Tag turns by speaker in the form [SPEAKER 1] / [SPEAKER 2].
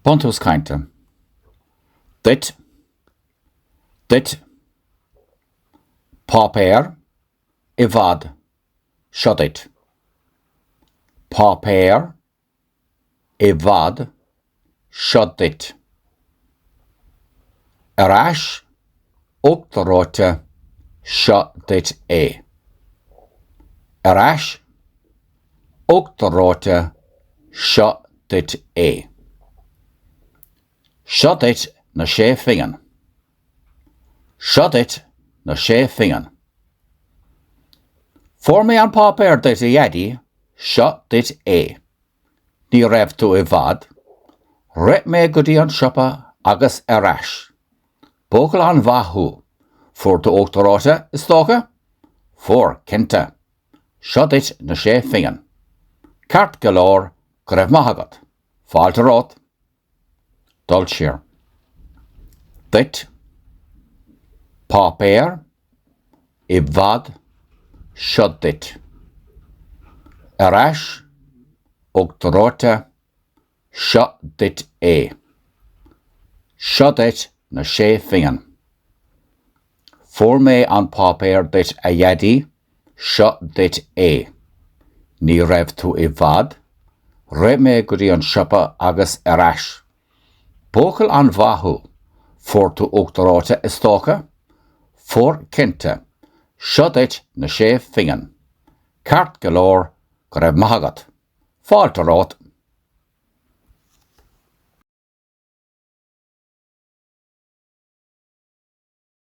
[SPEAKER 1] Buntús Cainte Duit Duit Páipéar i bhfad Seo duit Páipéar i bhfad Seo duit Ar ais, uachtar reoite, seo duit é. Ar ais, uachtar reoite, seo duit é. Seo duit na sé phingin. Seo duit na sé phingin. Fuair mé an páipéar duit a Dhaidí, seo duit é. Ní raibh tú i bhfad. Rith mé go dtí an siopa agus ar ais. Buachaill an-mhaith thú. Fuair tú uachtar reoite, is dócha? Fuair, cinnte. Seo duit na sé phingin. Ceart go leor, go raibh maith agat. Fáilte romhat. Dul siar. Duit. Páipéar. I bhfad. Seo duit. Ar ais. Uachtar reoite. Seo duit é. Seo duit na sé phingin. Fuair mé an páipéar duit a Dhaidí Seo duit é. Ní raibh tú i bhfad. Rith mé go dtí an siopa agus ar ais. Buachaill an-mhaith thú. Fuair tú uachtar reoite, is dócha? Fuair cinnte. Seo duit na sé phingin. Ceart go leor, go raibh maith agat. Fáilte romhat.